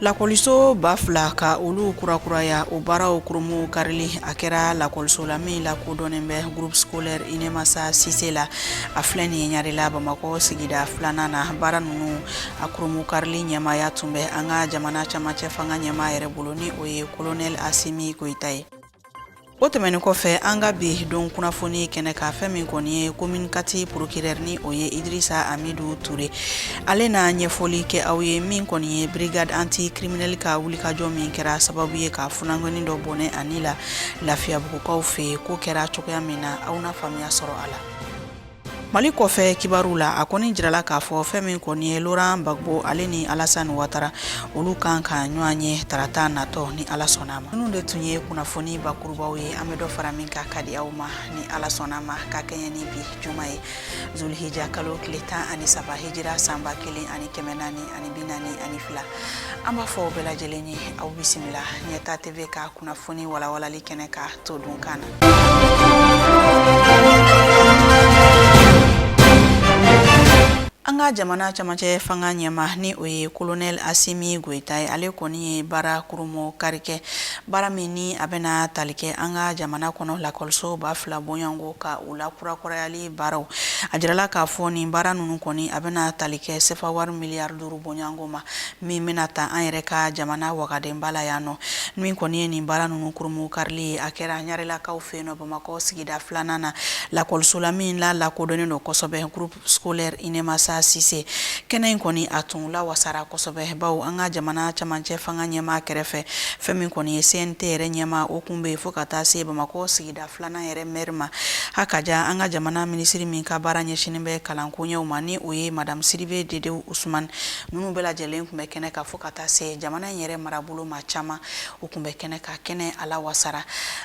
Lakɔliso ba fila ka olu kurakuraya o baaraw kurumu karili a kɛra lakɔliso la min lakodɔnnen bɛ groupe scolaire inemasa sise la a filɛ nin ye ɲarela bamakɔ sigida filanan na baara ninnu a kurumu karili ɲɛmaaya tun bɛ an ka jamana camancɛ fanga ɲɛmaa yɛrɛ bolo ni o ye kolonɛl asimi goyita ye o tɛmɛnin kɔfɛ an ka bi don kunnafoni kɛnɛ ka fɛn min kɔni ye commune quatre procureur ni o ye idrisa amidu ture ale na ɲɛfɔli kɛ aw ye min kɔni ye brigade anti criminel ka wulikajɔ min kɛra sababu ye ka funankɛnin dɔ bɔnɛ a ni la lafiyabugukaw fɛ yen ko kɛra cogoya min na aw na faamuya sɔrɔ a la Mali kɔfɛ kibaruw la a kɔni jirala k'a fɔ fɛn min kɔni ye Laurent Gbagbo ale ni Alassane Ouattara olu kan ka ɲɔgɔn ye tarata natɔ ni Ala sɔnna a ma ninnu de tun ye kunnafoni bakurubaw ye an bɛ dɔ fara min kan k'a di aw ma ni Ala sɔnna a ma ka kɛɲɛ ni bi juma ye zulhijja kalo tile tan ani saba hijira san ba kelen ani kɛmɛ naani ani bi naani ani fila an b'a fɔ bɛɛ lajɛlen ye aw bisimila ɲɛtaa TV ka kunnafoni walawalali kɛnɛ ka to dun kan na. An ka jamana camancɛ fanga ɲɛmaa ni o ye kolonɛl asimi goyita ye ale kɔni ye baara kurumu kari kɛ baara min ni a bɛna tali kɛ an ka jamana kɔnɔ lakɔliso ba fila bɔɲɔgɔnko ka u lakurakurayali baaraw a jirala k'a fɔ nin baara ninnu kɔni a bɛna tali kɛ sefa wari miliyari duuru bɔɲɔgɔnko ma min bɛna ta an yɛrɛ ka jamana wagandeba la yan nɔ min kɔni ye nin baara ninnu kurumu karili ye a kɛra ɲarelakaw fɛ yen nɔ bamakɔ sigida filanan na lakɔliso la min la lakodɔnnen don kosɛbɛ groupe scolaire inemasa sise kɛnɛ in kɔni a tun lawasara kosɛbɛ bawo an ka jamana camancɛ fanga ɲɛmaa kɛrɛfɛ fɛn min kɔni ye cnt yɛrɛ ɲɛmaa o kun bɛ yen fo ka taa se bamakɔ sigida Da filanan yɛrɛ mɛri ma ha ka jan an ka jamana minisiri min ka baara ɲɛsinin bɛ kalankoɲɛw ma ni o ye madamu sidibe dedewu usman ninnu bɛɛ lajɛlen tun bɛ kɛnɛ kan fo ka taa se jamana in yɛrɛ marabolo maa caman u tun bɛ kɛnɛ ka kɛnɛ a lawasara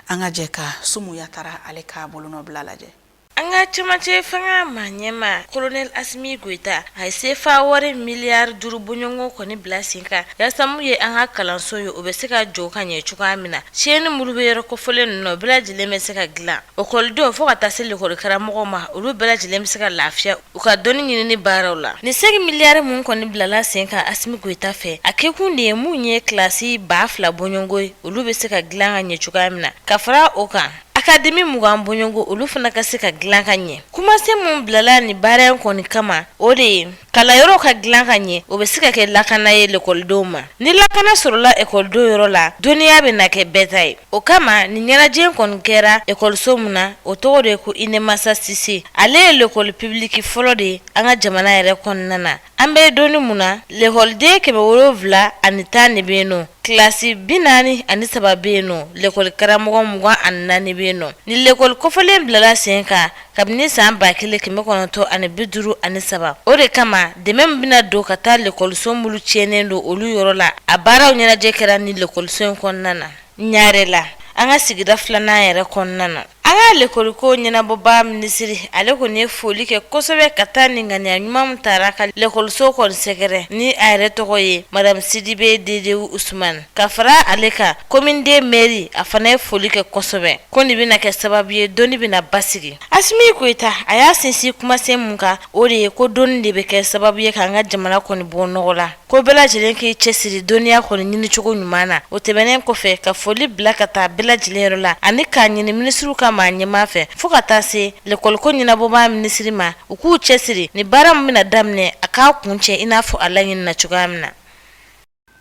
an ka jɛ ka sumu yatara ale ka bolonɔbila lajɛ An ka camancɛ fanga maa ɲɛmaa kolonɛl asimi goyita a ye sefa wari miliyari duuru bɔɲɔgɔnko kɔni bila sen kan yaasa mun ye an ka kalanso ye o bɛ se ka jɔ ka ɲɛ cogoya min na tiɲɛni minnu bɛ yɔrɔ kofɔlen ninnu o bɛɛ lajɛlen bɛ se ka dilan ekɔlidenw fo ka taa se lekɔlikaramɔgɔw ma olu bɛɛ lajɛlen bɛ se ka lafiya u ka dɔnni ɲinini baaraw la nin sɛnki miliyari min kɔni bilala sen kan asimi goyita fɛ a kɛkun de ye min ye kilasi ba fila bɔɲɔgɔnko ye olu bɛ se ka dilan ka ɲɛ cogoya min na ka fara o kan Akademi mugan bɔɲɔgɔnko olu fana ka se ka dilan ka ɲɛ kumasen min bilala ni baara in kɔni kama o de ye kalanyɔrɔ ka dilan ka ɲɛ o bɛ se ka kɛ lakana ye lakɔlidenw ma ni lakana sɔrɔla ekɔlidenw yɔrɔ la dɔnniya bɛna kɛ bɛɛ ta ye o kama nin ɲɛnajɛ kɔni kɛra ekɔliso min na o tɔgɔ de ye ko inemasa sise ale ye lakɔli pibiliki fɔlɔ de ye an ka jamana yɛrɛ kɔnɔna na An bɛ don min na lɛkɔliden kɛmɛ wolonwula ani tan de bɛ yen nɔ kilasi bi naani ani saba bɛ yen nɔ lɛkɔlikaramɔgɔ mugan ani naani bɛ yen nɔ ni lɛkɔli kɔfɔlen bilala sen kan kabini san ba kelen kɛmɛ kɔnɔntɔn ani bi duuru ani saba o de kama dɛmɛ min bɛna don ka taa lɛkɔliso minnu tiɲɛnen don olu yɔrɔ la a baaraw ɲɛnajɛ kɛra ni lɛkɔliso in kɔnɔna na Ɲare la an ka sigida filanan yɛrɛ kɔnɔna na an ka lɛkɔliko ɲɛnabɔba minisiri ale kɔni ye foli kɛ kosɛbɛ ka taa nin ŋaniya ɲuman min tara ka lɛkɔliso kɔni sɛgɛrɛ ni a yɛrɛ tɔgɔ ye madamu Sidibe Dedewu Usman ka fara ale kan commune deux mɛri a fana ye foli kɛ kosɛbɛ ko nin bɛna kɛ sababu ye dɔnni bɛna basigi Asimi Goyita a y'a sinsin kumasen mun kan o de ye ko dɔnni de bɛ kɛ sababu ye k'an ka jamana kɔni bɔ nɔgɔ la ko bɛɛ lajɛlen k'i cɛsiri dɔnniya kɔni ɲinicogo ɲuman na o tɛmɛnen kɔfɛ ka foli bila ka taa bɛɛ lajɛlen yɔrɔ la ani k'a ɲini minisiriw ka maa ɲɛmaa fɛ fɔɔ ka taa se lɛkɔliko ɲɛnabɔbaa minisiri ma u k'u cɛsiri ni baara min bɛna daminɛ a k'a kuncɛ i n'a fɔ a laɲinina cogoya min na.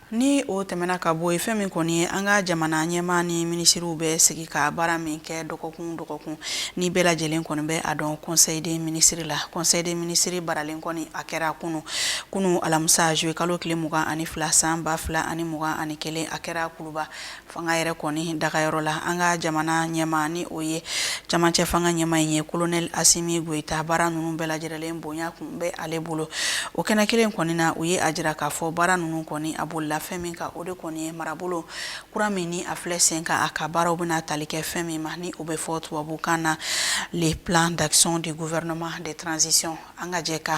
Ni o tɛmɛna ka bɔ yen, fɛn min kɔni ye an ka jamana ɲɛmaa ni minisiriw bɛ sigi ka baara min kɛ dɔgɔkun o dɔgɔkun, ni bɛɛ lajɛlen kɔni bɛ a dɔn Conseil des ministres la, Conseil des ministres baralen kɔni a kɛra kunu kunu alamisa zuye kalo tile mugan ani fila san ba fila ani mugan ani kelen a kɛra kuluba fanga yɛrɛ kɔni dagayɔrɔ la an ka jamana ɲɛma ni o ye camancɛ fanga ɲɛma in ye kolonɛli asimi goyita baara ninnu bɛɛ lajɛlen bonya kun bɛ ale bolo o kɛnɛ kelen kɔni na u ye a jira k'a fɔ baara ninnu kɔni a bolila fɛn min kan o de kɔni ye marabolo kura min ni a filɛ sen kan a ka baaraw bɛna tali kɛ fɛn min ma ni o bɛ fɔ tubabukan na le plan d'action du gouvernement de transition an ka jɛ ka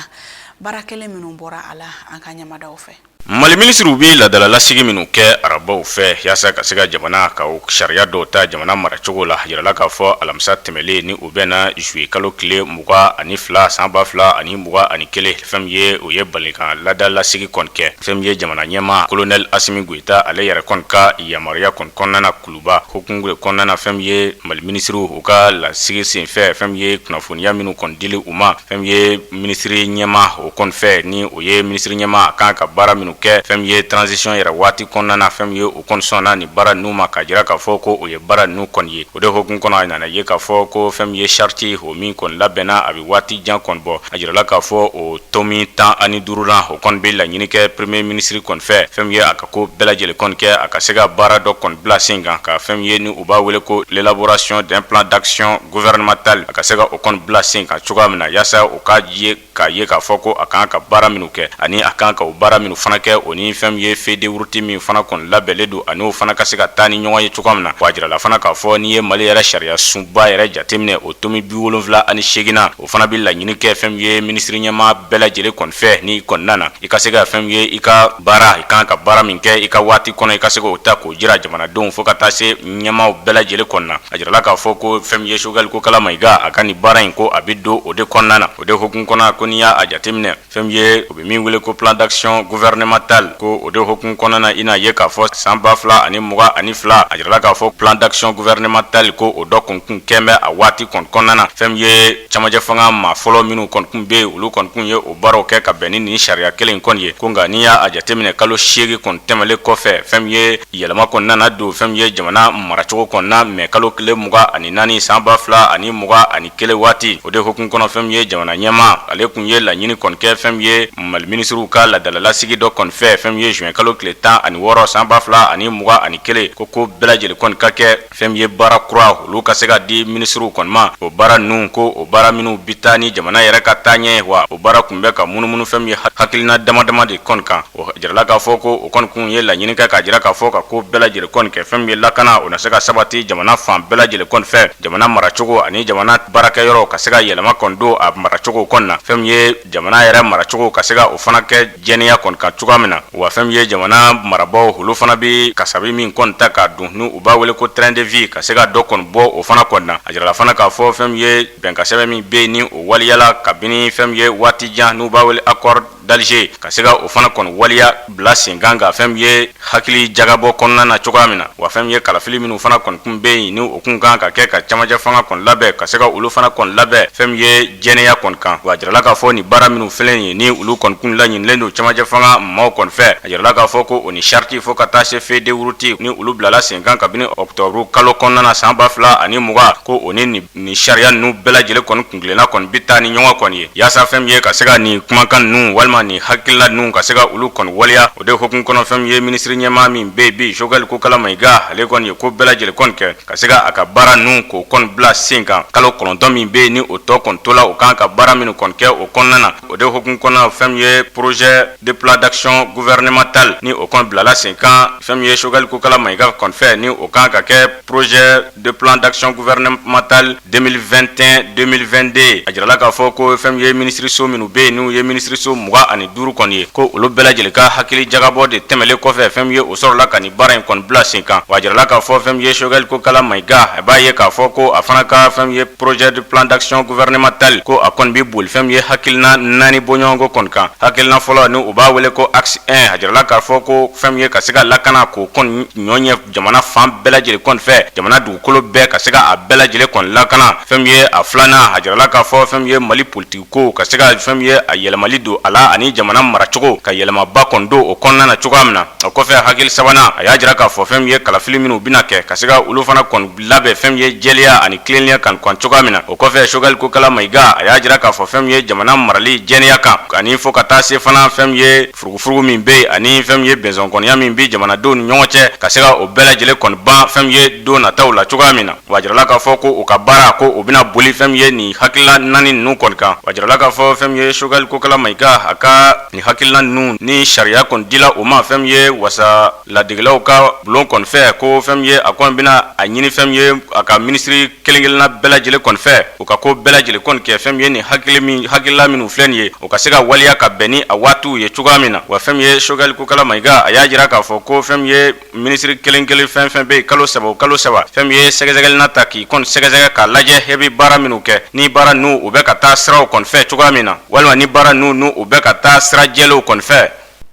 baara kɛlen minnu bɔra a la an ka ɲɛmadaw fɛ mali minisiriw bɛ ladala lasigi minnu kɛ arabaw fɛ yaasa ka se ka jamana ka sariya dɔw ta jamana maracogo la jirala k'a fɔ alamisa tɛmɛnlen ni o bɛnna zuye kalo tile mugan ani fila san ba fila ani mugan ani kelen fɛn min ye u ye balikan ladala lasigi kɔni kɛ fɛn min ye jamana ɲɛma kolonɛli asimi goyita ale yɛrɛ kɔni ka yamaruya kɔni kɔnɔna kulu Ba hukumu de kɔnɔna na fɛn min ye mali minisiriw u ka lasigi senfɛ fɛn min ye kunnafoniya minnu kɔni dila u ma fɛn min ye minisiri ɲɛma o kɔni fɛ ni o ye minisiri ɲɛma a kan ka baara minnu kɛ fɛn min ye transition yɛrɛ waati kɔnɔna na fɛn min ye u kɔni sɔnna nin baara ninnu ma k'a jira k'a fɔ ko u ye baara ninnu kɔni ye o de hukumu kɔnɔ a nana ye k'a fɔ ko fɛn min ye sariti o min kɔni labɛnna a bɛ waati jan kɔni bɔ a jirala k'a fɔ o tomi tan ani duuru la o kɔni bɛ laɲini kɛ premier ministre kɔni fɛ fɛn ye a ko bɛɛ lajɛlen kɔni kɛ a ka se ka baara dɔ kɔni bila sen kan ka fɛn ye ni u b'a wele ko l'élaboration d'un plan d'action gouvernemental a ka se ka o kɔni bila sen kan cogoya min na yaasa u ka jɛ k'a ye k'a fɔ ko a kan ka baara minnu kɛ ani a kan ka o baara minnu fana kɛ o ni fɛn min ye feuille de route min fana kɔni labɛnlen don ani o fana ka se ka taa ni ɲɔgɔn ye cogoya min na wa a jirala fana k'a fɔ n'i ye mali yɛrɛ sariya sunba yɛrɛ jateminɛ o tomi bi wolonwula ani segin na o fana bɛ laɲini kɛ fɛn min ye minisiri ɲɛma bɛɛ lajɛlen kɔni fɛ ni kɔnɔna na i ka se ka fɛn min ye i ka baara i kan ka baara min kɛ i ka waati kɔnɔ i ka se k'o ta k'o jira jamanadenw fo ka taa se ɲɛmaw bɛɛ lajɛlen kɔnɔna a jirala k'a fɔ ko fɛn min ye Choguel Kokalla Maïga a ka nin baara in ko a bɛ don o de kɔnɔna na o de hukumu kɔnɔ ko n'i y'a jateminɛ Fɛn min ye u bɛ min wele ko plan d'action gouvernemental ko o de hukumu kɔnɔna na i n'a ye k'a fɔ san ba fila ani mugan ani fila a jirala k'a fɔ plan d'action gouvernemental ko o dɔ kɔni kun kɛlen bɛ a waati kɔni kɔnɔna na fɛn min ye camancɛ fanga maa fɔlɔ minnu kɔni kun bɛ yen olu kɔni kun ye o baaraw kɛ ka bɛn ni ni sariya kelen kɔni ye ko nka n'i y'a jateminɛ kalo seegin kɔni tɛmɛlen kɔfɛ fɛn min ye yɛlɛma kɔni nana don fɛn min ye jamana maracogo kɔni na mɛ kalo tile mugan ani naani san ba fila ani mugan ani kelen waati o de hukumu kɔnɔ fɛn min ye jamana ɲɛma ale kun ye laɲini kɔni kɛ fɛn min ye Mali minisiriw ka ladalalasigi dɔ kɔni fɛ fɛn min ye zuwɛn kalo tile tan ani wɔɔrɔ san ba fila ani mugan ani kelen ko ko bɛɛ lajɛlen kɔni ka kɛ fɛn min ye baara kura olu ka se ka di minisiriw kɔni ma o baara ninnu ko o baara minnu bi taa ni jamana yɛrɛ ka taa ɲɛ wa o baara kun bɛ ka munumunu fɛn min ye hakilina dama dama de kɔni kan Jirala k'a fɔ ko o kɔni kun ye laɲini kɛ k'a jira k'a fɔ ka ko bɛɛ lajɛlen kɔni kɛ fɛn min ye lakana o na se ka sabati jamana fan bɛɛ lajɛlen kɔni fɛ jamana maracogo ani jamana baarakɛyɔrɔ ka se ka yɛlɛma kɔni don a maracogo kɔni na fɛn min ye jamana yɛrɛ maracogo ka se ka o fana kɛ jɛnɛya kɔni kan cogoya min na wa fɛn min ye jamana marabaaw olu fana bɛ kasabi min kɔni ta ka don n'u b'a wele ko train de vie ka se ka dɔ kɔni bɔ o fana kɔni na a jirala fana k'a fɔ fɛn min ye bɛnkansɛbɛn min bɛ yen ni o waleyala kabini fɛn min ye waati jan n'u b'a wele accord d'Alger ka se ka o fana kɔni waleya bila sen kan ka fɛn min ye hakili jagabɔ kɔnɔna na cogoya min na wa fɛn min ye kalafili minnu fana kɔni kun bɛ yen ni o kun kan ka kɛ ka camancɛ fanga kɔni labɛn ka se ka olu fana kɔni labɛn fɛn min ye jɛnɛya kɔni kan wa a jirala k'a fɔ ni baara minnu filɛ ye ni olu kɔni kun laɲinilen don camancɛ fanga maaw kɔni fɛ a jirala k'a fɔ ko o ni charte fo ka taa se feuille de route ni olu bilala sen kan kabini ɔkutɔburu kalo kɔnɔna na san ba fila ani mugan ko o ni Nin sariya ninnu bɛɛ lajɛlen kɔni kuntilenna kɔni bɛ taa ni ɲɔgɔn kɔni ye yaasa fɛn min ye ka se ka nin kumakan ninnu walima nin hakilina ninnu ka se ka olu kɔni waleya o de hukumu kɔnɔ fɛn min ye minisiri ɲɛmaa min bɛ yen bi Choguel Kokalla Maïga ale kɔni ye ko bɛɛ lajɛlen kɔni kɛ ka se ka a ka baara ninnu k'o kɔni bila sen kan kalo kɔnɔntɔn min bɛ yen ni o tɔ kɔni tola u kan ka baara minnu kɔni kɛ o kɔnɔna na o de hukumu kɔnɔ fɛn min ye projet de plan d'action gouvernemental ni o kɔni bilala sen kan fɛn min ye Choguel Kokalla Maïga kɔni fɛ ni o kan ka kɛ projet de plan d'action gouvernemental 2021-2022 a jirala k'a fɔ ko fɛn min ye minisiriso minnu bɛ yen n'u ye minisiriso mugan ani duuru kɔni ye ko olu bɛɛ lajɛlen ka hakili jagabɔ de tɛmɛlen kɔfɛ fɛn min ye o sɔrɔla ka nin baara in kɔni bila sen kan wa a jirala k'a fɔ fɛn min ye Choguel Kokalla Maïga a b'a ye k'a fɔ ko a fana ka fɛn min ye projet de plan d'action gouvernemental ko a kɔni bɛ boli fɛn min ye hakilina naani bɔɲɔgɔnko kɔni kan hakilina fɔlɔ ni u b'a wele ko axe 1 a jirala k'a fɔ ko fɛn min ye ka se ka lakana k'o kɔni ɲɔ ɲɛ jamana fan bɛɛ lajɛlen kɔni fɛ jamana dugukolo bɛɛ ka se ka a bɛɛ lajɛlen kɔni lakana fɛn min ye a filanan a jirala k'a fɔ fɛn min ye mali politiki ko ka se ka fɛn min ye a yɛlɛmali don a la ani jamana maracogo ka yɛlɛmaba kɔni don o kɔnɔna na cogoya min na o kɔfɛ hakili sabanan a y'a jira k'a fɔ fɛn min ye kalafili minnu bɛna kɛ ka se ka olu fana kɔni labɛn fɛn min ye jɛlenya ani tilennenya kan kɔni cogoya min na o kɔfɛ sogɛli kokala mayiga a y'a jira k'a fɔ fɛn min ye jamana marali jɛlenya kan ani fo ka taa se fana fɛn min ye furugufurugu min bɛ yen ani fɛn min ye bɛnsɔnkɔniya min bɛ jamanadenw ni ɲɔgɔn cɛ ka se ka o bɛɛ lajɛlen kɔni ban fɛn min ye don nataw la cogoya min na wa a jirala k'a fɔ ko u ka baara ko u bɛna boli fɛn min ye nin hakilila naani ninnu kɔni kan wa a jirala k'a fɔ fɛn min ye sogɛli kokala mayiga a ka nin hakilila ninnu ni sariya kɔni dila u ma fɛn min ye wasa laadikɛlaw ka bulon kɔni fɛ ko fɛn min ye a kɔni bɛna a ɲini fɛn min ye a ka minisiri kelenkelenna bɛɛ lajɛlen kɔni fɛ u ka ko bɛɛ lajɛlen kɔni kɛ fɛn min ye ni hakili hakilila minnu filɛ nin ye u ka se ka waleya ka bɛn ni a waatiw ye cogoya min na wa fɛn min ye sogɛli kokala mayiga a y'a jira k'a fɔ ko fɛn min ye minisiri kelenkelen fɛn o fɛn bɛ yen kalo saba o kalo saba fɛn min ye sɛgɛsɛgɛli na taa k'i kɔni sɛgɛsɛgɛ k'a lajɛ he i bɛ baara minnu kɛ ni baara ninnu u bɛ ka taa siraw kɔni fɛ cogoya min na walima ni baara ninnu u bɛ ka taa sira jɛlenw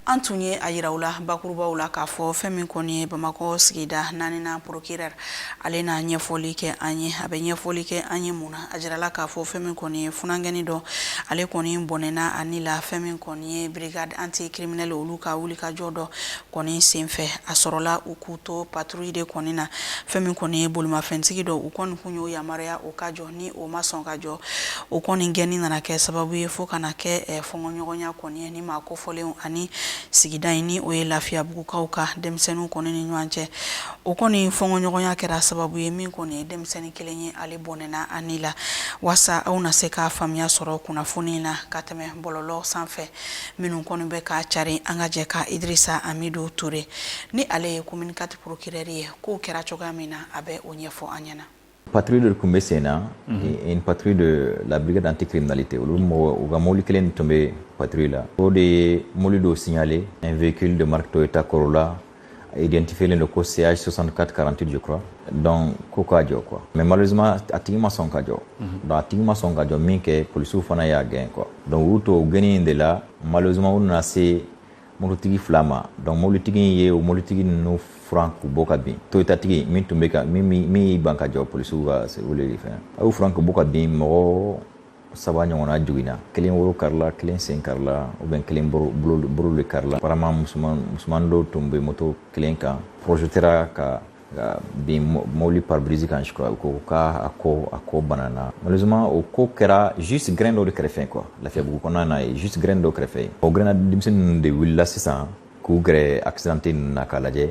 an tun ye a yira aw la bakurubaw la k'a fɔ fɛn min kɔni ye bamakɔ sigida naaninan porokirɛri ale n'a ɲɛfɔli kɛ an ye a bɛ ɲɛfɔli kɛ an ye mun na a jirala k'a fɔ fɛn min kɔni ye funankɛnin dɔ ale kɔni bɔnɛna a ni la fɛn min kɔni ye brigade anti criminelle olu ka wulikajɔ dɔ kɔni senfɛ a sɔrɔla u k'u to patrouille de kɔni na fɛn min kɔni ye bolimafɛntigi dɔ u kɔni tun y'o yamaruya o ka jɔ ni o ma sɔn ka jɔ o kɔni gɛnni nana kɛ sababu ye fo ka na kɛ eh, fɔngɔɲɔgɔnya kɔni ye ni maa kofɔlenw ani sigida in ni o ye lafiyabugukaw ka denmisɛnninw kɔni ni ɲɔgɔn cɛ o kɔni fɔngɔɲɔgɔnya kɛra sababu ye min kɔni ye denmisɛnnin kelen ye ale bɔnɛna a ni la waasa aw na se ka faamuya sɔrɔ kunnafoni na ka tɛmɛ bɔlɔlɔ sanfɛ minnu kɔni bɛ ka cari an ka jɛ ka idirisa amidu ture ni ale ye commune quatre porokirɛri ye k'o kɛra cogoya min na a bɛ o ɲɛfɔ an ɲɛna patiri de tun bɛ sen na in patiri de labila dante kirinali tɛ olu mɔgɔ u ka mobili kelen tun bɛ patiri la o de ye mobili dɔw siyalen n v ki de maritɔ ye ta kɔrɔ la dentifilen don ko seya sɔsan kati kalanrantɛ jɔ kura dɔn ko k'a jɔ kuwa mɛ mali a tigi ma sɔn ka jɔ a tigi ma sɔn ka jɔ min kɛ polisiw fana y'a gɛn kɔ dɔnku y'u to o gnen in de la malizimaw na se mototigi fila ma donc mobilitigi in ye o mobilitigi ninnu furan k'u bɔ ka bin toyotatigi min tun bɛ ka min y'i ban ka jɔ polisiw ka weleli fɛ a y'u furan k'u bɔ ka bin mɔgɔ saba ɲɔgɔnna joginna kelen woro karila kelen sen karila ou bien kelen bolo de karila balima musoman dɔ tun bɛ moto kelen kan projetera ka ka bin mɔbili pare-brise kan je crois ko k'a ko a ko banna malheureusement o ko kɛra juste gɛrɛn dɔ de kɛrɛfɛ quoi lafiyabugu kɔnɔna na yen juste gɛrɛn dɔ kɛrɛfɛ o gɛrɛn denmisɛnninw de wulila sisan k'u gɛrɛ accidenté ninnu na k'a lajɛ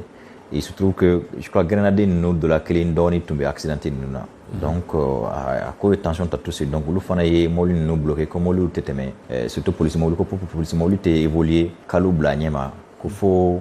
se trouve je crois gɛrɛnnaden ninnu dɔ la kelen dɔgɔnin tun bɛ accidenté ninnu na donc a ko ye tension ta tout ça donc olu fana ye mɔbili ninnu bloqué ko mɔbili tɛ tɛmɛ surtout polisi mɔbili ko pp polisi mɔbili tɛ évoluer k'olu bila ɲɛma ko fo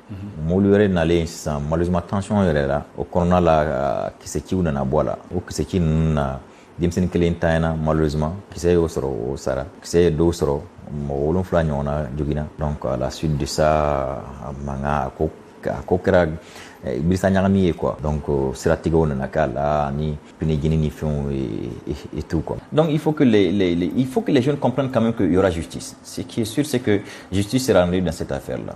Mɔbili wɛrɛ nalen sisan malheureusement tension yɛlɛla o kɔnɔna la kisɛciw nana bɔ a la o kisɛci ninnu na denmisɛnnin kelen tanyana malheureusement kisɛ y'o sɔrɔ o sara kisɛ ye dɔw sɔrɔ mɔgɔ wolonfila ɲɔgɔnna joginna donc à la suite de ça a mankan a ko a ko kɛra eh, birisa ɲagami ye quoi donc euh, siratigɛw nana k'a la ani pinɛjeni ni fɛnw et tout quoi donc il faut que les, les, les, il faut que les jeunes comprennent quand même qu'il y aura justice ce qui est sûr c'est que justice sera rendue dans cette affaire là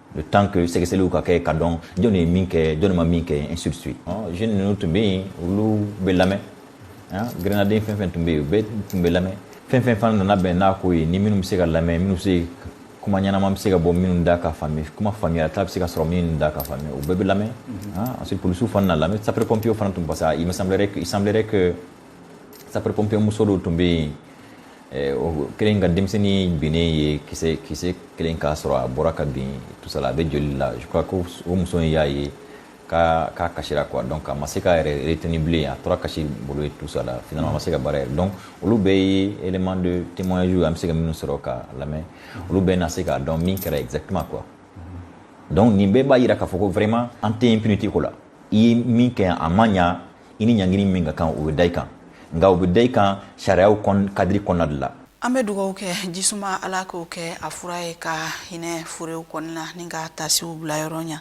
le temps que sɛgɛsɛgɛliw ka kɛ ka dɔn jɔn ye min kɛ jɔn ma min kɛ ainsi de suite jeune ninnu tun bɛ yen olu bɛ lamɛn gɛrɛnnaden fɛn fɛn tun bɛ yen u bɛɛ tun bɛ lamɛn fɛn fɛn fana nana bɛn n'a ko ye ni minnu bɛ se ka lamɛn minnu se kuma ɲɛnama bɛ se ka bɔ minnu da ka faamuya kuma faamuyata bɛ se ka sɔrɔ minnu da ka faamuya u bɛɛ bɛ lamɛn ensuite polisiw fana na lamɛn sapeur pompiers fana tun parce que il me semblerait que il semblerait que sapeur pompiers muso dɔw tun bɛ yen kelen ka denmisɛnnin binnen ye kisɛ kisɛ kelen k'a sɔrɔ a bɔra ka bin tout ça là a bɛ joli la je crois ko o muso in y'a ye k'a k'a kasira quoi donc a ma se k'a yɛrɛ retenir bilen a tora kasi bolo yen tout ça là finalement a ma se ka baara yɛrɛ donc olu bɛɛ ye élément de témoignage ye an bɛ se ka minnu sɔrɔ ka lamɛn olu bɛɛ na se k'a dɔn min kɛra exactement quoi donc nin bɛɛ b'a jira k'a fɔ ko vraiment an tɛ impunité ko la i ye min kɛ a ma ɲa i ni ɲangini min ka kan o bɛ da i kan nka o bɛ da i kan sariyaw kadiri kɔnɔna de la an bɛ dugawu kɛ jisuma ala k'o kɛ a fura ye ka hinɛ furew kɔni na ani ka taasibila yɔrɔ ɲa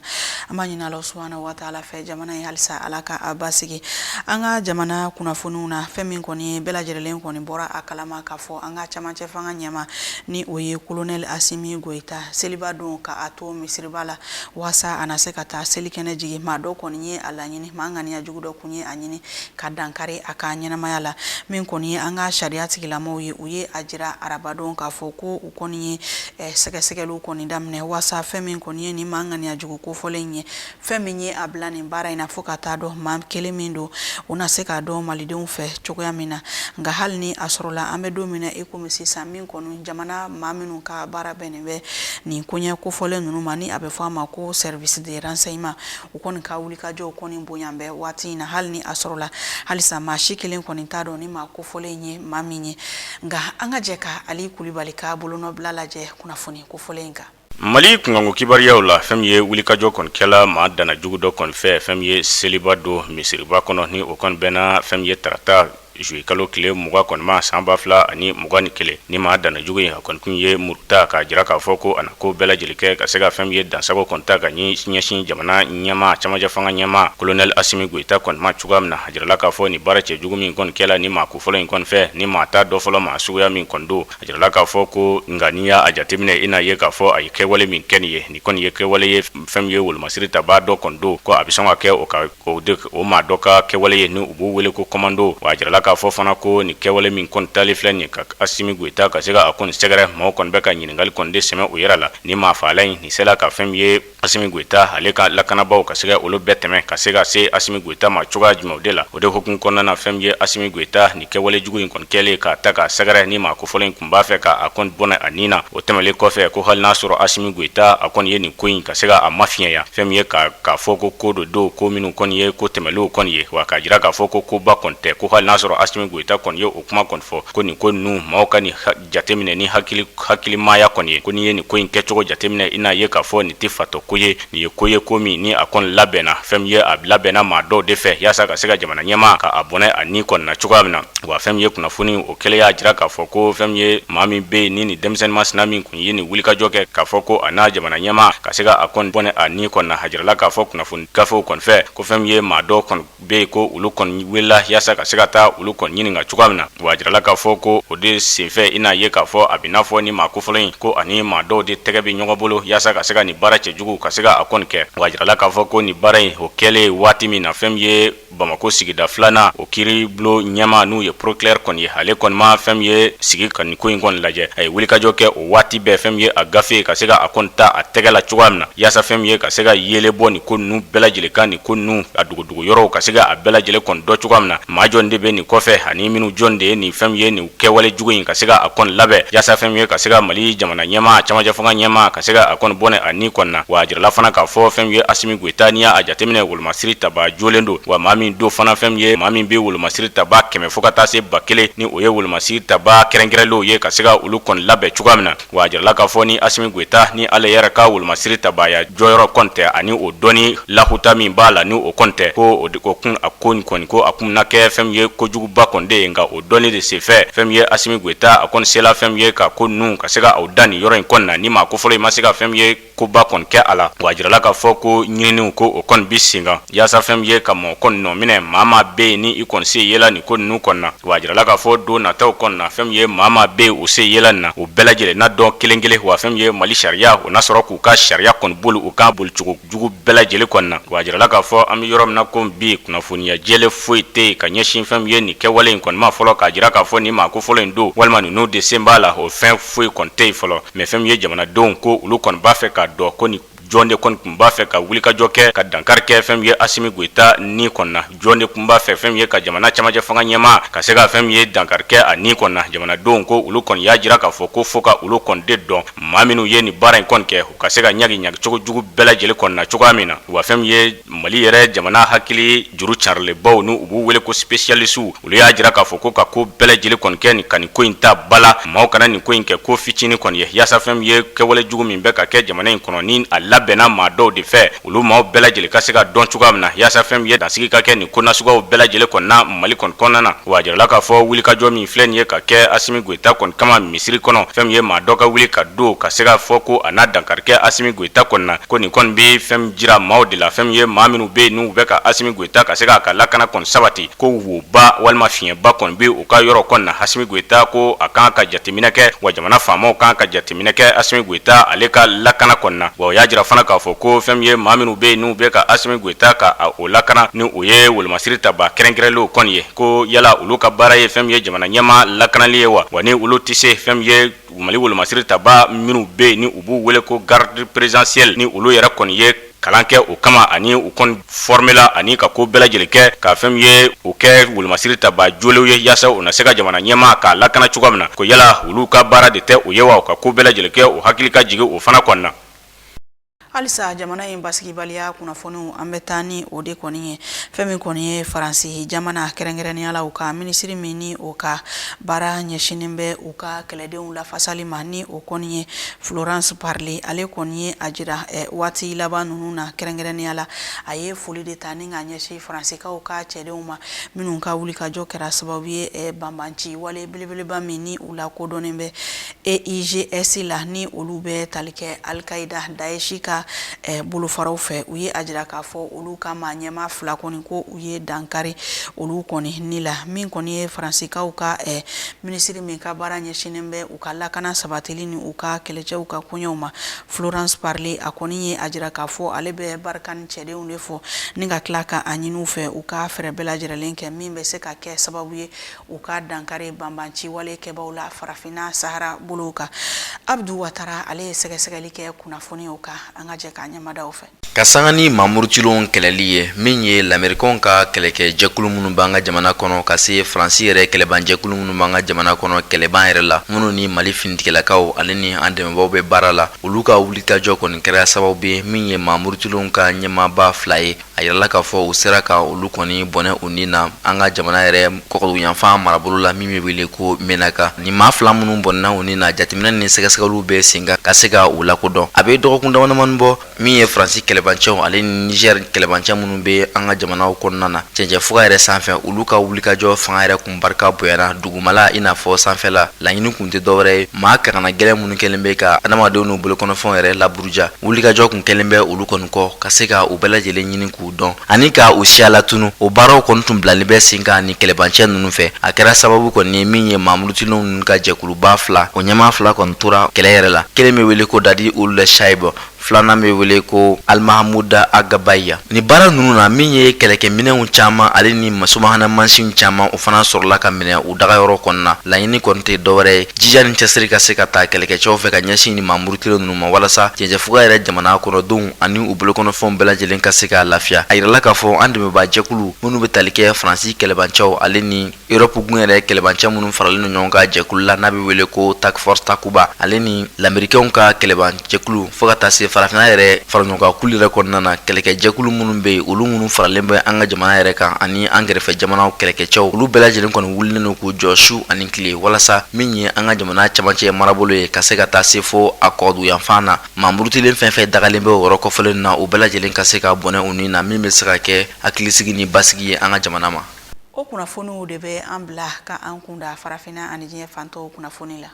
an b'a ɲini ala subahana wataala fɛ jamana ye halisa ala ka a basigi an ka jamana kunnafoniw na fɛn min kɔni ye bɛɛ lajɛlen kɔni bɔra a kalama k'a fɔ an ka camancɛ fanga ɲɛmaa ni o ye kolonɛli asimi goyita seliba don ka a to misiriba la waasa a na se ka taa selikɛnɛ jigin maa dɔ kɔni ye a laɲini maa ŋaniya jugu dɔ kun ye a ɲini ka dankari a ka ɲɛnamaya la min kɔni ye an ka sariya tigilamɔgɔw ye u ye a jira arabadon k'a fɔ ko u kɔni ye sɛgɛsɛgɛliw kɔni daminɛ waasa fɛn min kɔni ye nin maa ŋaniya jugu kofɔlen ye fɛn min ye a bila nin baara in na fo ka taa dɔn maa kelen min don u na se k'a dɔn malidenw fɛ cogoya min na nka hali ni a sɔrɔla an bɛ don min na i komi sisan min kɔni jamana maa minnu ka baara bɛnnen bɛ nin koɲɛ kofɔlen ninnu ma ni a bɛ fɔ a ma ko service de renseignement u kɔni ka wulikajɔw kɔni bonyanen bɛ waati in na hali ni a sɔrɔla halisa maa si kelen kɔni t'a dɔn nin maa kofɔlen ye maa min ye nka an ka jɛ ka ali kulibali ka bolonɔbila lajɛ kunnafoni kofɔlen in kan Mali kunkanko kibaruyaw la fɛn min ye wulikajɔ kɔni kɛla maa dana jugu dɔ kɔni fɛ fɛn min ye seliba don misiriba kɔnɔ ni o kɔni bɛnna fɛn min ye tarata zuye kalo tile mugan kɔni ma san ba fila ani mugan ni kelen ni maa dana jugu in a kɔni kun ye muru ta k'a jira k'a fɔ ko a na ko bɛɛ lajɛlen kɛ ka se ka fɛn min ye dansago kɔni ta ka ɲɛ ɲɛsin jamana ɲɛmaa camancɛ fanga ɲɛmaa kolonɛli Asimi Goyita kɔni ma cogoya min na a jirala k'a fɔ ni baara cɛjugu min kɔni kɛla ni maa kofɔlen in kɔni fɛ ni maa t'a dɔn fɔlɔ maa suguya min kɔni don A jirala k'a fɔ ko nka n'i y'a jateminɛ i n'a ye k'a fɔ a ye kɛwale min kɛ nin ye nin kɔni ye kɛwale ye fɛn min ye wolomasiri tabaa dɔ kɔni don ko a bɛ sɔn ka kɛ o ka o maa dɔ ka kɛwale ye ni u b'u wele ko kɔmando wa a jirala k'a fɔ fana ko nin kɛwale min kɔni tali filɛ nin ka Asimi Goyita ka se ka a kɔni sɛgɛrɛ maaw kɔni bɛ ka ɲininkali kɔni de sɛmɛ u yɛrɛ la ni maa faala in nin sela ka fɛn ye Asimi Goyita ale ka lakanabaaw ka se ka olu bɛɛ tɛmɛ ka se ka se Asimi Goyita ma cogoya jumɛnw de la o de hukumu kɔnɔna na fɛn min ye Asimi Goyita nin kɛwale jugu in kɔni kɛlen k'a ta k'a sɛgɛrɛ ni maa kofɔlen in kun b'a fɛ k'a kɔni bɔnɛ a ni na o tɛmɛlen kɔfɛ ko hali n'a sɔrɔ Asimi Goyita a kɔni ye nin ko in ka se ka a mafiɲɛya fɛn min ye ka k'a fɔ ko ko dɔ don ko minnu kɔni ye ko tɛmɛlenw kɔni ye wa k'a jira k'a fɔ ko koba kɔni tɛ ko hali n'a sɔrɔ Asimi Goyita kɔni ye o kuma kɔni fɔ ko nin ko ninnu maaw ka nin jateminɛ ni hakili hakilimaya kɔni ye ko n'i ye nin ko in kɛcogo jateminɛ i n'a ye k'a fɔ nin tɛ fatɔ ko ye nin ye ko ye ko min ni a kɔni labɛnna fɛn min ye a labɛnna maa dɔw de fɛ yaasa ka se ka jamana ɲɛmaa ka a bɔnɛ a ni kɔni na cogoya min na wa fɛn min ye kunnafoni o kelen y'a jira k'a fɔ ko fɛn min ye maa min bɛ yen ni ni denmisɛnnin masina min kun ye nin wulikajɔ kɛ k'a fɔ ko a na jamana ɲɛmaa ka se ka a kɔni bɔnɛ a ni kɔni na a jirala k'a fɔ kunnafoni gafew kɔni fɛ ko fɛn min ye maa dɔw kɔni bɛ yen ko olu kɔni welela yaasa ka se ka taa olu kɔni ɲininka cogoya min na wa a jirala k'a fɔ ko o de senfɛ i n'a ye k'a fɔ a bɛ n'a fɔ ni maa kofɔlen in ko a ni maa dɔw de tɛgɛ bɛ ɲɔgɔn bolo yaasa ka se ka nin baara cɛjugu ka se ka a kɔni kɛ wa a jirala k'a fɔ ko nin baara in o kɛlen waati min na fɛn min ye Bamakɔ sigida filanan o kiiri bulon ɲɛmaa n'o ye procureur kɔni ye ale kɔni ma fɛn min ye sigi ka nin ko in kɔni lajɛ a ye wulikajɔ kɛ waati bɛɛ fɛn min ye a gafe ka se ka a kɔni ta a tɛgɛ la cogoya min na yaasa fɛn min ye ka se ka yeelen bɔ nin ko ninnu bɛɛ lajɛlen kan nin ko ninnu a dogodogo yɔrɔw ka se ka a bɛɛ lajɛlen kɔni dɔn cogoya min na maa jɔn de bɛ nin kɔfɛ ani minnu jɔn de ye nin fɛn min ye nin kɛwale jugu in ka se ka a kɔni labɛn yaasa fɛn min ye ka se ka Mali jamana ɲɛmaa camancɛ fanga ɲɛmaa ka se ka a kɔni bɔnɛ a ni kɔni na wa a jirala fana k'a fɔ fɛn min ye Asimi Goyita n'i y'a jateminɛ Masiri tabaa jɔlen don wa maa min don fana fɛn min ye maa min bɛ wolomasiri tabaa kɛmɛ fo ka taa se ba kelen ni o ye wolomasiri tabaa kɛrɛnkɛrɛnlenw ye ka se ka olu kɔni labɛn cogoya min na wa a jirala k'a fɔ ni Asimi Goyita ni ale yɛrɛ ka wolomasiri tabaaya jɔyɔrɔ kɔni tɛ ani o dɔnni lahuta min b'a la ni o kɔni tɛ ko o kun a ko in kɔni ko a kun na kɛ fɛn min ye kojuguba kɔni de ye nka o dɔnni de senfɛ fɛn min ye Asimi Goyita a kɔni sela fɛn min ye ka ko ninnu ka se ka aw dan nin yɔrɔ in kɔni na ni maa kofɔlen in ma se ka fɛn ye koba kɔni kɛ a la wa a jirala k'a fɔ ko ɲininiw ko o kɔni bi sen kan yaasa fɛn min ye ka mɔgɔ kɔni nɔ minɛ maa maa bɛ yen ni i kɔni sen yela nin ko ninnu kɔni na wa a jirala k'a fɔ don nataw kɔni na fɛn min ye maa maa bɛ yen u sen yela nin na u bɛɛ lajɛlen na dɔn kelen kelen wa fɛn min ye mali sariya o n'a sɔrɔ k'u ka sariya kɔni boli u kan bolicogo jugu bɛɛ lajɛlen kɔni na wa a jirala k'a fɔ an bɛ yɔrɔ min na ko bi kunnafoniya jɛlen foyi tɛ yen ka ɲɛsin fɛn min ye nin kɛwale in kɔni ma fɔlɔ k'a jira k'a fɔ nin maa kofɔlen in don walima ninnu de sen b'a la o fɛn foyi kɔni tɛ yen fɔlɔ mɛ fɛn min ye jamanadenw ko olu kɔni b'a fɛ k'a dɔn ko ni jɔn de kɔni tun b'a fɛ ka wulikajɔ kɛ ka dankari kɛ fɛn min ye Asimi Goita ni kɔni na jɔn de tun b'a fɛ fɛn min ye ka jamana camancɛ fanga ɲɛmaa ka se ka fɛn min ye dankari kɛ a ni kɔni na jamanadenw ko olu kɔni y'a jira k'a fɔ ko fo ka olu kɔni de dɔn maa minnu ye nin baara in kɔni kɛ u ka se ka ɲangi ɲangicogo jugu bɛɛ lajɛlen kɔni na cogoya min na wa fɛn ye Mali yɛrɛ jamana hakili juru carilenbaw n'u b'u wele ko spécialistes olu y'a jira k'a fɔ ko ka ko bɛɛ lajɛlen kɔni kɛ ni ka nin ko in ta ba la maaw kana nin ko in kɛ ko fitinin kɔni ye yaasa fɛn min ye kɛwale jugu min bɛ ka kɛ jamana in kɔnɔ ni a labɛnna maa dɔw de fɛ olu maaw bɛɛ lajɛlen ka se ka dɔn cogoya min na yaasa fɛn min ye dansigi ka kɛ nin ko nasuguyaw bɛɛ lajɛlen kɔni na mali kɔni kɔnɔna na wa a jirala k'a fɔ wulikajɔ min filɛ nin ye ka kɛ Asimi Goita kɔni kama misiri kɔnɔ fɛn min ye maa dɔ ka wuli ka don ka se k'a fɔ ko a na dankari kɛ a Goita kɔni na ko nin kɔni bɛ fɛn min jira maaw de la fɛn min ye maa minnu bɛ yen n'u bɛ ka Asimi Goita ka se k'a ka lakana kɔni sabati ko woba walima fiɲɛba kɔni bɛ u ka yɔrɔ kɔni na Asimi Goita ko a kan ka jateminɛ kɛ wa jamana faamaw kan ka jateminɛ kɛ Asimi Goita ale ka lakana kɔni na wa u y'a jira fana k'a fɔ ko fɛn min ye maa minnu bɛ yen n'u bɛ ka Asimi Goita ka o lakana ni o ye wolomasiri taba kɛrɛnkɛrɛnnenw kɔni ye ko yala olu ka baara ye fɛn min ye jamana ɲɛmaa lakanali ye wa wa ni olu tɛ se fɛn ye Mali wolomasiri taba minnu bɛ yen ni u b'u wele ko garde présidentielle ni olu yɛrɛ kɔni ye kalan kɛ o kama ani u kɔni fɔrɔmela ani ka ko bɛɛ lajɛlen kɛ ka fɛn min ye u kɛ wolomasiri taba jolenw ye yaasa u na se ka jamana ɲɛmaa k'a lakana cogoya min na ko yala olu ka baara de tɛ o ye wa ka ko bɛɛ lajɛlen kɛ u hakili ka jigin o fana kɔni na halisa jamana in basigibaliya kunnafoniw an bɛ taa ni o de kɔni ye fɛn min kɔni ye faransi jamana kɛrɛnkɛrɛnnenya la u ka minisiri min ni o ka baara ɲɛsinnen bɛ u ka kɛlɛdenw lafasali ma ni o kɔni ye Florence Parly ale kɔni ye a jira eh, waati laban ninnu na kɛrɛnkɛrɛnnenya la a ye foli de ta ni ka ɲɛsin faransikaw ka cɛdenw ma minnu ka wulikajɔ kɛra sababu ye eh, banbanci wale belebeleba min ni u lakodɔnnen bɛ EIGS la ni olu bɛ tali kɛ Al-Qaida, Daesh ka eh, bolofaraw fɛ u ye a jira k'a fɔ olu ka maa ɲɛmaa fila kɔni ko u ye dankari olu kɔni ni la min kɔni ye Faransikaw ka eh, minisiri min ka baara ɲɛsinnen bɛ u ka lakana sabatili ni u ka kɛlɛcɛw ka koɲɛw ma Florence Parly a kɔni ye a jira k'a fɔ ale bɛ Barkhane cɛdenw de fo ni ka tila ka a ɲini u fɛ u ka fɛɛrɛ bɛɛ lajɛrɛlen kɛ min bɛ se ka kɛ sababu ye u ka dankari banbanciwale kɛbaw la farafinna sahara bolow kan abudu watara ale ye sɛgɛsɛgɛli kɛ kunnafoniw kan an ka jɛ k'a ɲɛmadaw fɛ ka sanga ni mamurutilenw kɛlɛli ye min ye lamerikanw ka kɛlɛkɛ jɛkulu minnu b'an ka jamana kɔnɔ ka se faransi yɛrɛ kɛlɛban jɛkulu minnu b'an ka jamana kɔnɔ kɛlɛban yɛrɛ la minnu ni mali finitigɛlakaw ale ni an dɛmɛbaw bɛ baara la olu ka wulikajɔ kɔni kɛra sababu ye min ye mamurutilenw ka ɲɛmaaba fila ye a yirala k'a fɔ u sera ka olu kɔni bɔnɛ u ni na an ka jamana yɛrɛ kɔkɔduguyanfan marabolo la min bɛ wele ko menaka nin maa fila minnu bɔnɛna u ni na jateminɛ ni sɛgɛsɛgɛliw bɛ sen kan ka se ka u lakodɔn a bɛ dɔgɔkun damadamani bɔ min ye faransi kɛlɛbancɛw ale ni nizɛri kɛlɛbancɛ minnu bɛ an ka jamanaw kɔnɔna na cɛncɛn fuga yɛrɛ sanfɛ olu ka wulikajɔ fanga yɛrɛ kun barika bonyana dugumala i n'a fɔ sanfɛla laɲini kun tɛ dɔwɛrɛ ye maa kangana gɛlɛn minnu kɛlen bɛ ka adamadenw n'u bolokɔnɔfɛnw yɛrɛ laburu ja wulikajɔ tun kɛlen bɛ olu kɔni kɔ ka se ka u bɛɛ lajɛlen ɲini k'u dɔn ani ka u siya latunu o baaraw kɔni tun bilalen bɛ sen kan ni kɛlɛbancɛ ninnu fɛ a kɛra sababu kɔni ye min ye mamurutilenw ninnu ka jɛkuluba fila o ɲɛmaa fila kɔni tora kɛlɛ yɛrɛ la kelen bɛ wele ko dadi uld shayibu filanan bɛ wele ko alimahamuda agabaya ni baara ninnu na min ye kɛlɛkɛminɛnw caman ale ni subahana mansinw caman o fana sɔrɔla ka minɛ u dagayɔrɔ kɔnɔna laɲini kɔni tɛ dɔwɛrɛ ye jija ni cɛsiri ka se ka taa kɛlɛkɛcɛw fɛ ka ɲɛsin ni mamurutilen ninnu ma walasa cɛncɛnfuga yɛrɛ jamana kɔnɔdenw ani u bolokɔnɔfɛnw bɛɛ lajɛlen ka se ka lafiya a yirala k'a fɔ an dɛmɛbaa jɛkulu minnu bɛ tali kɛ faransi kɛlɛbancɛw ale ni europe gun yɛrɛ kɛlɛbancɛ minnu faralen don ɲɔgɔn kan jɛkulu la n'a bɛ wele ko task force takuba ale ni lamerikɛnw ka kɛlɛbancɛkulu fo ka taa se farafinna yɛrɛ faraɲɔgɔnkankulu yɛrɛ kɔnɔna na kɛlɛkɛ jɛkulu minnu bɛ yen olu minnu faralen bɛ an ka jamana yɛrɛ kan ani an kɛrɛfɛ jamanaw kɛlɛkɛcɛw olu bɛɛ lajɛlen kɔni wulilen don k'u jɔ su ani tile walasa min ye an ka jamana camancɛ marabolo ye ka se ka taa se fo a kɔduyanfan na mamurutilen fɛn fɛn dagalen bɛ yɔrɔ kofɔlen na u bɛɛ lajɛlen ka se ka bɔnɛ u ni na min bɛ se ka kɛ hakilisigi ni basigi ye an ka jamana ma o kunnafoniw de bɛ an bila ka an kunda farafinna ani diɲɛ fan tɔw kunnafoni la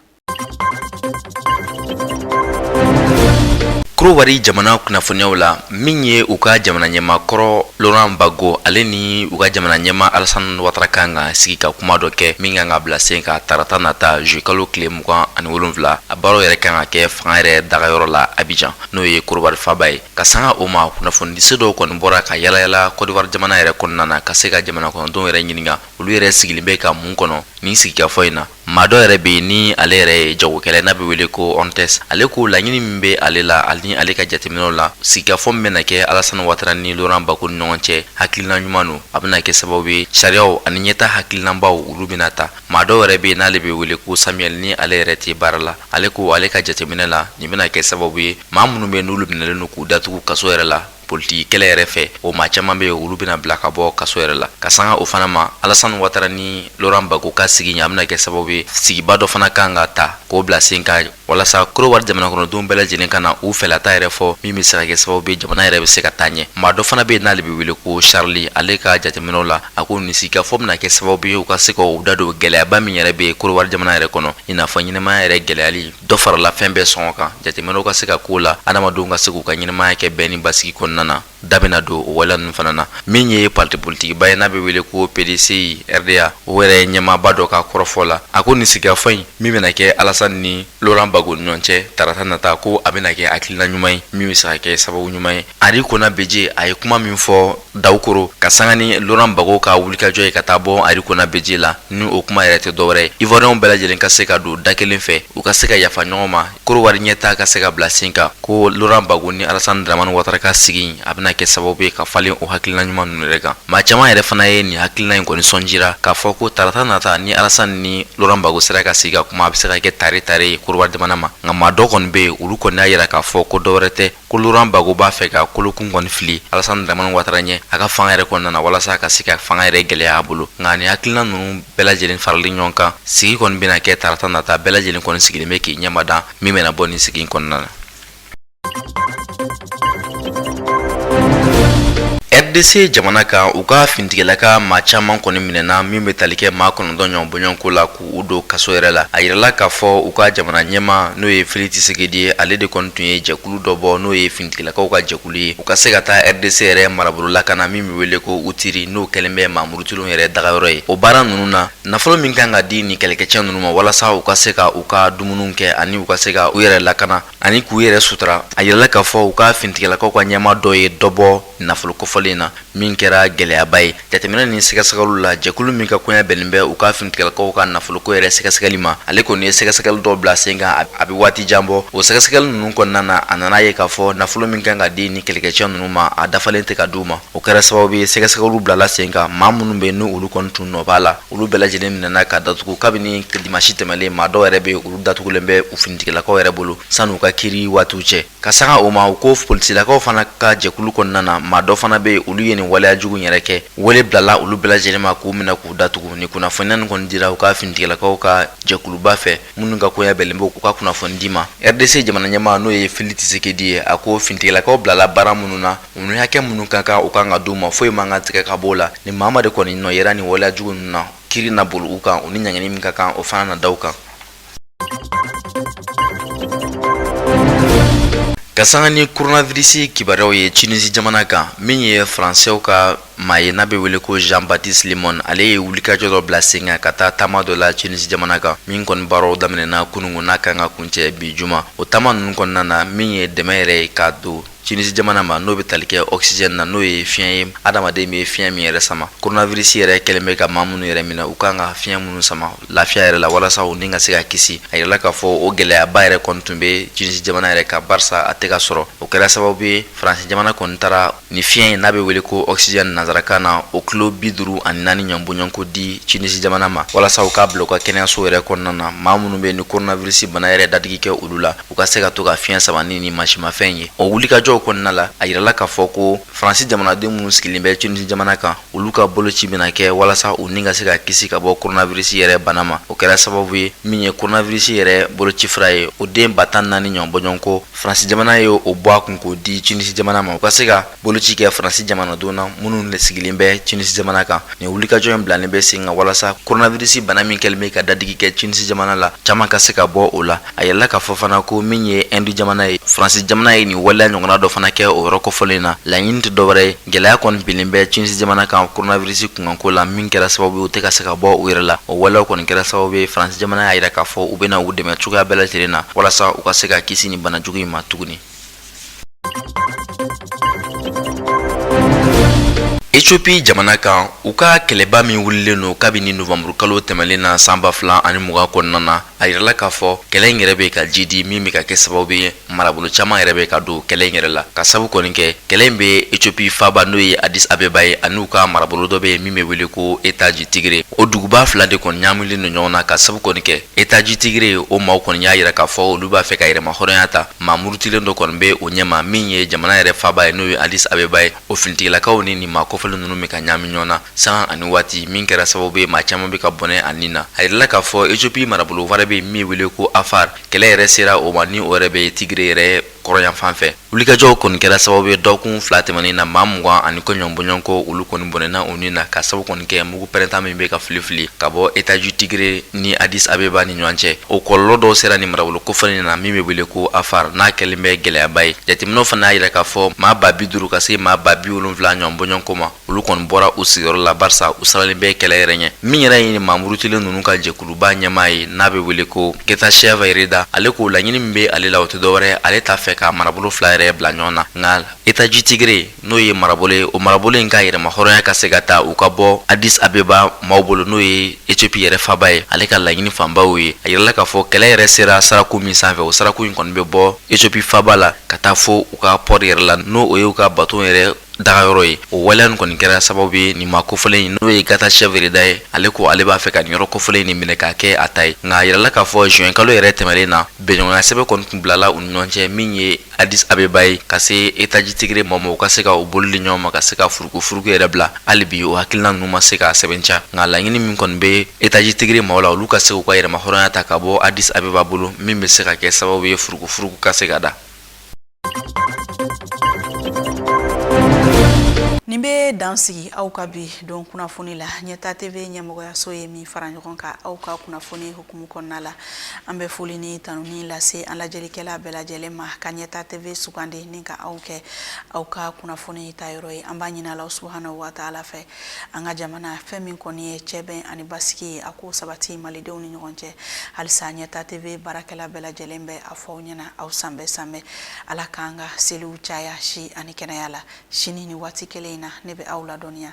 Kurowari jamana kunnafoniyaw la min ye u ka jamana ɲɛmaa kɔrɔ Laurent Gbagbo ale ni u ka jamana ɲɛmaa Alassane Ouattara kan ka sigi ka kuma dɔ kɛ min kan ka bila sen kan tarata nata juillet kalo tile mugan ani wolonfila a baaraw yɛrɛ kan ka kɛ fanga yɛrɛ dagayɔrɔ la Abidjan n'o ye Kurowari faaba ye ka sanga o ma kunnafonidiso dɔw kɔni bɔra ka yalayala Côte d'Ivoire jamana yɛrɛ kɔnɔna na ka se ka jamana kɔnɔdenw yɛrɛ ɲininka olu yɛrɛ sigilen bɛ ka mun kɔnɔ nin sigikafɔ in na Maa dɔ yɛrɛ bɛ yen ni ale yɛrɛ ye jagokɛla n'a bɛ wele ko Ontes ale ko laɲini min bɛ ale la ani ale ka jateminɛw la sigikafɔ min bɛna kɛ Alassane Ouattara ni Laurent Gbagbo ni ɲɔgɔn cɛ hakilina ɲuman don a bɛna kɛ sababu ye sariyaw ani ɲɛtaa hakilinabaw olu bɛna ta maa dɔ yɛrɛ bɛ yen n'ale bɛ wele ko Samuel ni ale yɛrɛ tɛ baara la ale ko ale ka jateminɛ la nin bɛna kɛ sababu ye maa minnu bɛ yen n'olu minɛlen don k'u datugu kaso yɛrɛ la politiki kɛlɛ yɛrɛ fɛ o maa caman bɛ yen olu bɛna bila ka bɔ kaso yɛrɛ la ka sanga o fana ma alasani watara ni Laurent Gbagbo ka sigi in a bɛna kɛ sababu ye sigiba dɔ fana kan ka ta k'o bila sen kan walasa korowari jamanakɔnɔdenw bɛɛ lajɛlen ka na u fɛlata yɛrɛ fɔ min bɛ se ka kɛ sababu ye jamana yɛrɛ bɛ se ka taa ɲɛ maa dɔ fana bɛ yen n'ale bɛ wele ko charli ale ka jateminɛw la a ko nin sigikafɔ bɛna kɛ sababu ye u ka se ka u da don gɛlɛyaba min yɛrɛ bɛ korowari jamana yɛrɛ kɔnɔ i n'a fɔ ɲɛnamaya yɛrɛ gɛlɛyali dɔ farala fɛn bɛɛ sɔngɔ kan jateminɛw ka se ka k'o la adamadenw ka se k'u ka ɲɛnamaya kɛ bɛn ni basigi kɔnɔna na da bɛna don o waleya ninnu fana na min ye parti politikiba ye n'a bɛ wele ko PDCI RDA o yɛrɛ ɲɛmaaba dɔ ka kɔrɔfɔ la a ko nin sigikafɔ in min bɛna kɛ Alasani ni Laurent Gbagbo ni ɲɔgɔn cɛ tarata nata ko a bɛna kɛ hakilina ɲuman ye min bɛ se ka kɛ sababu ɲuman ye Henri Konan Bédié a ye kuma min fɔ Daoukro ka sanga ni Laurent Gbagbo ka wulikajɔ ye ka taa bɔ Henri Konan Bédié la n'o kuma yɛrɛ tɛ dɔwɛrɛ Ivoirienw bɛɛ lajɛlen ka se ka don da kelen fɛ u ka se ka yafa ɲɔgɔn ma korowari ɲɛtaa ka se ka bila sen kan ko Laurent Gbagbo ni Alasani Dramani Watara ka sigi a bɛna kɛ sababu ye ka falen o hakilina ɲuman ninnu yɛrɛ kan maa caman yɛrɛ fana ye nin hakilina in kɔni sɔn jira k'a fɔ ko tarata nata ni Alasani ni Laurent Gbagbo sera ka sigi ka kuma a bɛ se ka kɛ taare taare ye korowari jamana ma nka maa dɔ kɔni bɛ yen olu kɔni y'a jira k'a fɔ ko dɔwɛrɛ tɛ ko Laurent Gbagbo b'a fɛ ka kolokun kɔni fili alasani dramani watara ɲɛ a ka fanga yɛrɛ kɔnɔna na walasa ka se ka fanga yɛrɛ gɛlɛya a bolo nka ni hakilina ninnu bɛɛ lajɛlen farali ɲɔgɔn kan sigi kɔni bɛna kɛ tarata nata bɛɛ lajɛlen kɔni sigilen bɛ k'i ɲɛmadan min bɛna bɔ nin sigi kɔnɔna na rdc jamana kan u ka finitigilaka maa caman kɔni minɛna min bɛ tali kɛ maa kɔnɔntɔn ɲɔgɔn bɔɲɔgɔnko la u don kaso yɛrɛ la a yirala k'a fɔ u ka jamana ɲɛmaa n'o ye Félix Tshisekedi ye ale de kɔni tun ye jɛkulu dɔ bɔ n'o ye finitigilakaw ka jɛkulu ye u ka se ka taa rdc yɛrɛ marabolo lakana min bɛ wele ko Ituri n'o kɛlen bɛ maa murutilen yɛrɛ dagayɔrɔ ye o baara ninnu na nafolo min kan ka di nin kɛlɛkɛcɛ ninnu ma walasa u ka se ka u ka dumuni kɛ ani u ka se ka u yɛrɛ lakana ani k'u yɛrɛ sutura a yirala k'a fɔ u ka finitigilakaw ka ɲɛmaa dɔ ye dɔ bɔ nafolo kofɔlen na min kɛra gɛlɛyaba ye jateminɛ ni sɛgɛsɛgɛliw la jɛkulu min ka koɲa bɛnnen bɛ u ka finitigilakaw ka nafoloko yɛrɛ sɛgɛsɛgɛli ma ale kɔni ye sɛgɛsɛgɛli dɔw bila sen kan a bɛ waati jan bɔ o sɛgɛsɛgɛli ninnu kɔnɔna na a nana ye k'a fɔ nafolo min kan ka di nin kɛlɛkɛcɛ ninnu ma a dafalen tɛ ka di u ma o kɛra sababu ye sɛgɛsɛgɛliw bilala sen kan maa minnu bɛ yen ni olu kɔni tun nɔ b'a la olu bɛɛ lajɛlen minɛna ka datugu kabini dimansi tɛmɛlen maa dɔw yɛrɛ bɛ olu datugulen bɛ u finitigilakaw yɛrɛ bolo sani u ka kiri waatiw cɛ ka sanga o ma u ko polisilakaw fana ka jɛkulu kɔnɔna na maa dɔ fana bɛ yen olu ye nin waleya jugu yɛrɛ kɛ wele bilala olu bɛɛ lajɛlen ma k'u minɛ k'u datugu ni kunnafoniya nin kɔni dira u ka finitigilakaw ka jɛkuluba fɛ minnu ka koya bɛnlen b'o ka kunnafoni di ma rdc jamana ɲɛmaa n'o ye Félix Tshisekedi ye a ko fintigilakaw bilala baara minnu na u ni hakɛ minnu ka kan u kan ka di u ma foyi man kan tigɛ ka b'o la ni maa maa de kɔni nɔ yera nin waleya jugu ninnu na kiiri na boli u kan u ni ɲangini min ka kan o fana na da u kan ka sanga ni koronavirisi kibaruyaw ye tunisi jamana kan min ye faransɛw ka maa ye n'a bɛ wele ko Jean Baptiste Lemoyne ale ye wulikajɔ dɔ bila sen kan ka taa taama dɔ la Tunisi jamana kan min kɔni baaraw daminɛna kunungun n'a kan ka kuncɛ bi juma o taama ninnu kɔnɔna na min ye dɛmɛ yɛrɛ ye k'a don Tunisi jamana ma n'o bɛ tali kɛ oxygène na n'o ye fiɲɛ ye adamaden bɛ fiɲɛ min yɛrɛ sama coronavirus yɛrɛ kɛlen bɛ ka maa minnu yɛrɛ minɛ u kan ka fiɲɛ minnu sama lafiya yɛrɛ la walasa u ni ka se ka kisi a yirala k'a fɔ o gɛlɛyaba yɛrɛ kɔni tun bɛ Tunisi jamana yɛrɛ kan barisa a tɛ ka sɔrɔ o kɛra sababu ye Faransi jamana kɔni taara Ni fiɲɛ ye n'a bɛ wele ko oxygène nanzarakan na, o kilo bi duuru ani naani ɲɔn bɔɲɔnko di Tunisie jamana ma, walasa u k'a bila u ka kɛnɛyasow yɛrɛ kɔnɔna na, maa minnu bɛ yen ni coronavirus bana yɛrɛ dadigi kɛ olu la, u ka se ka to ka fiɲɛ sama ni nin mansinmafɛn in ye. O wulikajɔw kɔnɔna la, a yirala k'a fɔ ko France jamanaden minnu sigilen bɛ Tunisie jamana kan, olu ka boloci bɛna kɛ walasa u ni ka se ka kisi ka bɔ coronavirus yɛrɛ bana ma. O kɛra sababu ye, min ye coronavirus yɛrɛ bolocifura ye, o den ba tan ni naani ɲɔn bɔɲɔnko Fransi jamana ye o bɔ a kun k'o di Tunisi jamana ma u ka se ka boloci kɛ fransi jamanaden na minnu de sigilen bɛ Tunisi jamana kan nin wulikajɔ in bilalen bɛ sen kan walasa koronavirisi bana min kɛlen bɛ ka dadigi kɛ Tunisi jamana la caman ka se ka bɔ o la a yirala k'a fɔ fana ko min ye Ɛndi jamana ye fransi jamana ye nin waleya ɲɔgɔnna dɔ fana kɛ o yɔrɔ kɔfɔlen na laɲini tɛ dɔwɛrɛ ye Gɛlɛya kɔni binlen bɛ Tunisi jamana kan koronavirisi kunkanko la min kɛra sababu ye u tɛ ka se ka bɔ u yɛrɛ la o walew kɔni kɛra sababu ye faransi jamana y'a yira k'a fɔ u bɛna u dɛmɛ cogoya bɛɛ lajɛlen na walasa u ka se ka kisi nin bana jugu in ma tuguni Etiyopi jamana kan u ka kɛlɛba min wulilen don kabini nowanburu kalo tɛmɛnen na san ba fila ani mugan kɔnɔna na a yirala k'a fɔ kɛlɛ in yɛrɛ bɛ ka jiidi min bɛ ka kɛ sababu ye marabolo caman yɛrɛ bɛ ka don kɛlɛ in yɛrɛ la k'a sabu kɔni kɛ kɛlɛ in bɛ ethiopie faaba n'o ye addis abeba ye an'u ka marabolo dɔ bɛ yen min bɛ wele ko état du tigre o duguba fila de kɔni ɲaamilen don ɲɔgɔn na k'a sabu kɔni kɛ état du tigre o maaw kɔni y'a yira k'a fɔ olu b'a fɛ ka yɛrɛmahɔrɔnya ta maa murutilen dɔ kɔni bɛ o ɲɛma min ye jamana yɛrɛ faaba ye n'o ye addis abeba ye o finitigilakaw ni nin maa kofɔlen ninnu bɛ ka ɲaami ɲɔgɔn na sanga ani waati min kɛra sababu ye maa caman bɛ ka bɔnɛ a ni na a yirala k'a fɔ Etiyopi marabolo wɛrɛ bɛ min wele ko afar kɛlɛ yɛrɛ sera o ma ni o yɛrɛ bɛ tigire yɛrɛ kɔrɔnyanfan fɛ wulikajɔw kɔni kɛra sababu ye dɔgɔkun fila tɛmɛnen na maa mugan ani kɔ ɲɔn bɔɲɔgɔnko olu kɔni bɔnɛna u ni na k'a sabu kɔni kɛ Mugu pɛrɛnta min bɛ ka fili fili ka bɔ état du tigre ni adis abeba ni ɲɔgɔn cɛ o kɔlɔlɔ dɔw sera nin marabolo kofɔlen in na min bɛ wele ko afar n'a kɛlen bɛ gɛlɛyaba ye jateminɛw fana y'a yira k'a fɔ maa ba bi duuru ka se maa ba bi wolonwula ɲɔgɔn bɔɲɔgɔnko ma olu kɔni bɔra u sigiyɔrɔ la barisa u siranlen bɛ kɛlɛ yɛrɛ ɲɛ min yɛrɛ ye nin maa murutilen ninnu ka jɛkuluba ɲɛmaa ye n'a bɛ wele ko getachew reda ale ko laɲini min bɛ ale la o tɛ dɔwɛrɛ ale t'a fɛ ka marabolo fila yɛrɛ bila ɲɔgɔn na nka état du tigre n'o ye marabolo ye o marabolo in ka yɛrɛma hɔrɔnya ka se ka ta u ka bɔ adis abeba maaw bolo n'o ye ethiopie yɛrɛ faba ye ale ka laɲini fanba y'o ye a yirala k'a fɔ kɛlɛ yɛrɛ sera saraku min sanfɛ o saraku in kɔni bɛ bɔ ethiopie faba la ka taa fo u ka port yɛrɛ la n'o o ye u ka baton yɛrɛ dagayɔrɔ ye o waleya nin kɔni kɛra sababu ye nin maa kofɔlen in n'o ye getachew reda ye ale ko ale b'a fɛ ka nin yɔrɔ kofɔlen in nin minɛ k'a kɛ a ta ye nka a yirala k'a fɔ juin kalo yɛrɛ tɛmɛlen na bɛnɲɔgɔnya sɛbɛn kɔni tun bilala u ni ɲɔgɔn cɛ min ye adis abeba ye ka se état du tigre maaw ma u ka se ka u bolo di ɲɔgɔn ma ka se ka furugufurugu yɛrɛ bila hali bi o hakilina ninnu ma se ka sɛbɛntiya nka laɲini min kɔni bɛ état du tigre maaw la olu ka se k'u ka yɛrɛma hɔrɔnya ta ka bɔ adis abeba bolo min bɛ se ka kɛ sababu ye furugufurugu ka se ka da nin bɛ dan sigi aw ka bi don kunnafoni la ɲɛta TV ɲɛmɔgɔyaso ye min fara ɲɔgɔn kan aw ka kunnafoni Kumu kɔnɔna la an bɛ foli ni tanuni lase an lajɛlikɛla bɛɛ lajɛlen ma ka ɲɛta TV sugandi ni ka aw kɛ aw ka kunnafoni ta yɔrɔ ye an b'a ɲini Alahu subahana wataala fɛ an ka jamana fɛn min kɔni ye cɛbɛn ani basigi ye a k'o sabati malidenw ni ɲɔgɔn cɛ halisa ɲɛta TV baarakɛla bɛɛ lajɛlen bɛ a fɔ aw ɲɛna aw sanbɛɛ sanbɛɛ Ala k'an ka seliw caya si ani kɛnɛya la sini ni waati kelen in na ne bɛ aw ladɔnniya